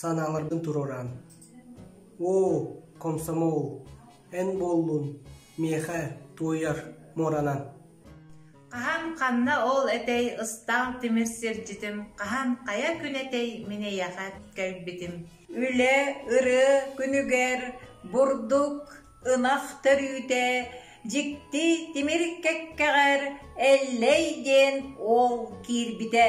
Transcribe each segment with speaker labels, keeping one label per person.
Speaker 1: санааларгын туруораан оо комсомол эн буоллун миэхэ туойар муоранан хаһан ханна ол этэй ыстаах тимир сирдьитим хаһан хайа күн этэй мин эйэхэ кэлбитим үлэ ыры күнүгэр бурдук ынах төрүүтэ дьикти тимир кэккэҕэр эллэй диэн ол киирбитэ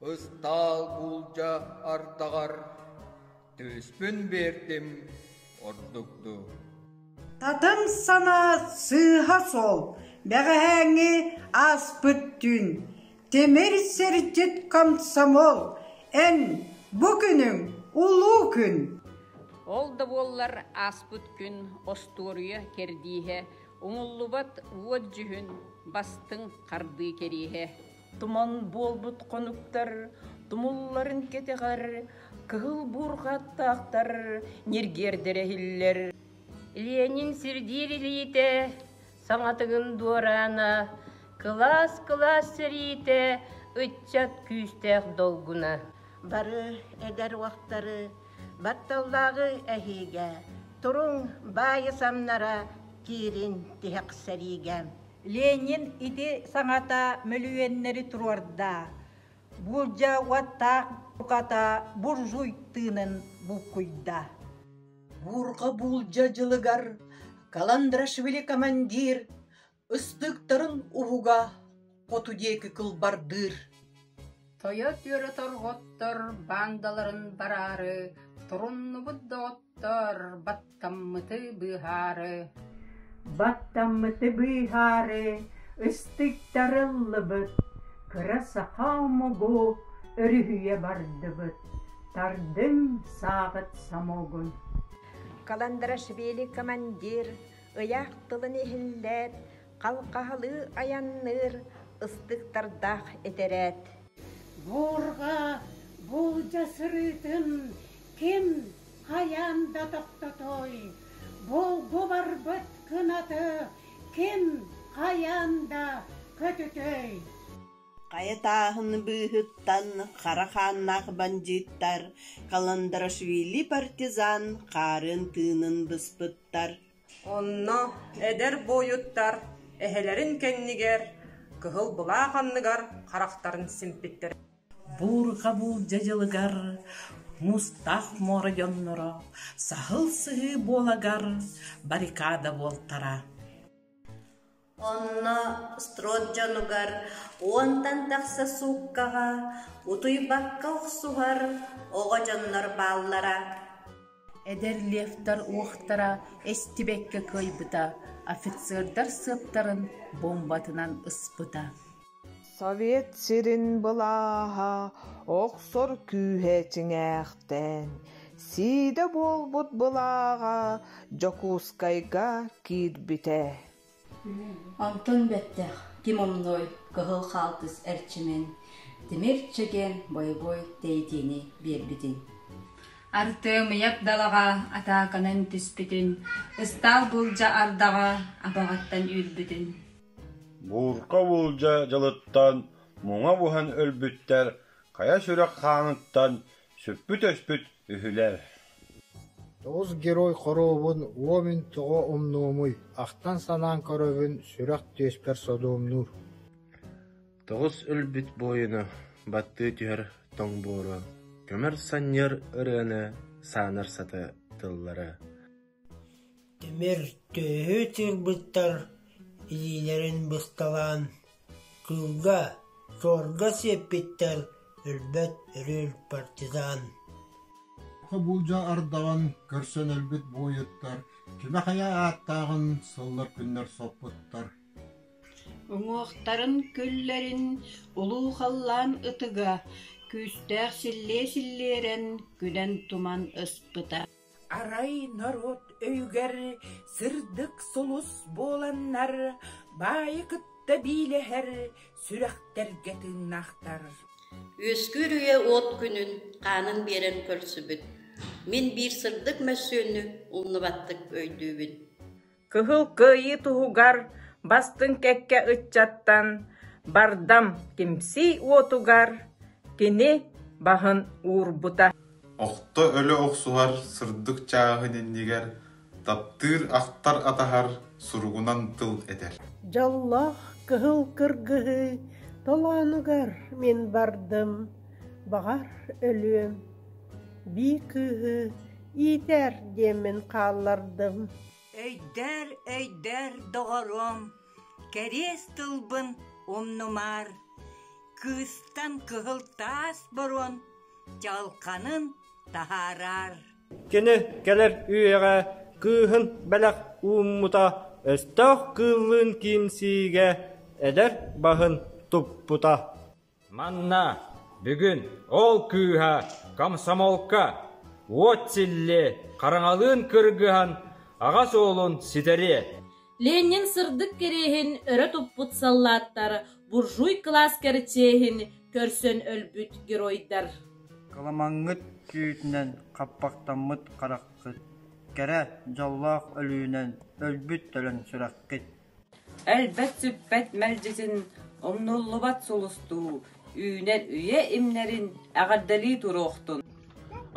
Speaker 1: Ыстаал буулдьа ардаҕар түспүн биэрдим ордук дуу Татым санаа сыыһа сол бэҕэһээҥҥи ааспыт түүн Тимир сирдьит комсомол эн бу күнүҥ улуу күн Ол да буоллар ааспыт күн остуоруйа кэрдииһэ, умуллубат уот дьүһүн, бастыҥ хардыы кэриэһэ. Туман буолбут хонуктар тумулларын кэтэҕэр кыһыл буурҕаттаахтар ньиргиэрдэр эһиллэр. Ленин сирдиир илиитэ саҥатыгын дуораана, кылаас-кылаас сэриитэ ыччат күүстээх долгуна. Бары эдэр уохтары батталлааҕы эһиигэ, туруҥ баайы самнара киирин тиһэхсэриигэ. Ленин ити саҥата мөлүйүөннэри туруорда, буулдьа уоттаах буката буржуй тыынын булкуйда. Буурҕа буулдьа дьылыгар каландрашвили командир ыстыктарын уһуга хоту диэки кылбардыыр. Тойот үөрэтэр оттор бандаларын бараары туруннубут доҕот Торбаттаммыты быыһаары Баттаммыты быыһаары Ыстыктары ыллыбыт Кыра саха омугу Өрүһүйэ бардыбыт Тардым сааҕыт самогун Каландарашвили командир ыйаах тылын иһиллээт халҕаһалыы айанныыр ыстыктардаах этэрээт. Буурҕа буулдьа сырыытын ким хайаан да тохтотуой, булгу барбыт кынаты ким хайаан да көтүтүөй. Хайа тааһын быыһыттан хара хааннаах бандьыыттар Каландарашвили партизан хаарын тыынын быспыттар Онно эдэр буойуттар эһэлэрин кэннигэр кыһыл былаах анныгар харахтарын симпиттэр Буурҕабыыл дьадьылыгар мустаах муора дьонноро саһыл сыһыы буолагар баррикада буолтара Онно строд дьонугар уонтан тахса сууккаҕа утуйбакка охсуһар оҕо дьоннор бааллара Эдэр левтар уохтара эстибэккэ кыайбыта, офицердар сыаптарын бомбатынан ыспыта. Совет сирин былааһа охсор күүһэ чиҥээхтээн, сиидэ буолбут былааҕа Дьокуускайга киирбитэ. Онтон бэттэх ким умнуой кыһыл хаалтыс эрчимин тимир чэгиэн бойобуой тэйитиини биэрбитин Артыам ыйап далаҕа атааканан түспүтүн ыстаал буулдьа ардаҕа абаҕаттан үүрбүтүн Буурка буулдьа дьылыттан муҥа буһан өлбүттэр хайа сүрэх хааныттан Сүппүт-өспүт үһүлэр Оҕус герой хоруобун уомүн тоҕо умнуомуй, ахтан-санаан көрөбүн, сүрэх түөспэр содуомнуур Тоҕус өлбүт буойуну баттыы түһэр тоҥ буору, көмөр санньыар ырыаны, саанар саты тыллары Тимир төһө тыырбыттар илиилэрин бысталаан, кыылга, чуорга сиэппиттэр өлбөт өрүөл партизан Хобуулдьа ардаҕын көрсөн өлбүт буойуттар кимэ-хайа ааттааҕын сыллар күннэр соппуттар Уҥуохтарын күллэрин улуу халлаан ытыга күүстээх силлиэ-силлиэрэн күнэн-туман ыспыта Арай норуот өйүгэр сырдык сулус буоланнар, баайы кытта биилэһэр сүрэхтэргэ тыыннаахтар Үөскүүр үйэ уот күнүн, хаанын биэрэн көрсүбүт. Мин биир сырдык мөссүөннү умнубаттык өйдүүбүн Кыһыл Кыайыы туһугар бастыҥ кэккэ ыччаттан Бардам түмсүү уотугар кини баһын уурбута Охто өлө охсуһар сырдык чааһын иннигэр таптыыр ахтар атаһар суругунан тыл этэр Дьоллоох кыһыл кыргыһыы толоонугар мин бардым баҕар өлүөм бии кыыһы Иитэр диэммин хааллардым Өйдөр, өйдөр, доҕоруом, кэриэс тылбын умнумаар, кыыстан кыһыл таас боруон чалханын таһаараар. Кини кэлэр үйэҕэ кыыһын бэлэх ууммута, өстөөх кыыллыын киимсиигэ эдэр баһын туппута. Манна бүгүн ол кыыһа комсомолка уот силлиэ хараҥалыын кыргыһан аҕас уолун ситэриэ. Ленин сырдык кэриэһин өрө туппут саллааттар буржуй кылаас кэрчээһин көрсөн өлбүт геройдар. Каламаҥҥыт күүтүнэн хаппахтаммыт хараххыт, кэрэ дьоллоох өлүүнэн өлбүт төлөн сүрэххит. Өлбөт-сүппэт мэлдьитин, умнуллубат сулустуу, үүнэн-үйэ имнэрин эҕэрдэлии туруохтун!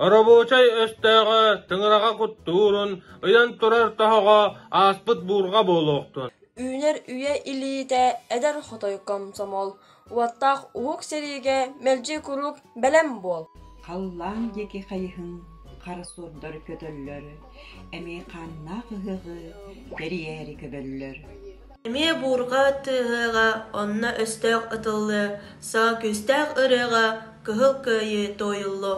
Speaker 1: Оробуочай өстөөҕө тыҥыраҕа куттуурун ыйан турар тоһоҕо ааспыт буурҕа буолуохтун! Үүнэр үйэ илиитэ эдэр хотойу комсомол Уоттаах уһук сэриигэ мэлдьи куруук бэлэм буол. Халлаан диэки хайыһын хара суордар көтөллөр, эмиэ хааннаах ыһыаҕы тэрийээри көбөллөр. Эмиэ буурҕа тыаһыаҕа, онно өстөөх ытыллы, саа күүстээх ырыаҕа кыһыл кыайыы туойуллуо.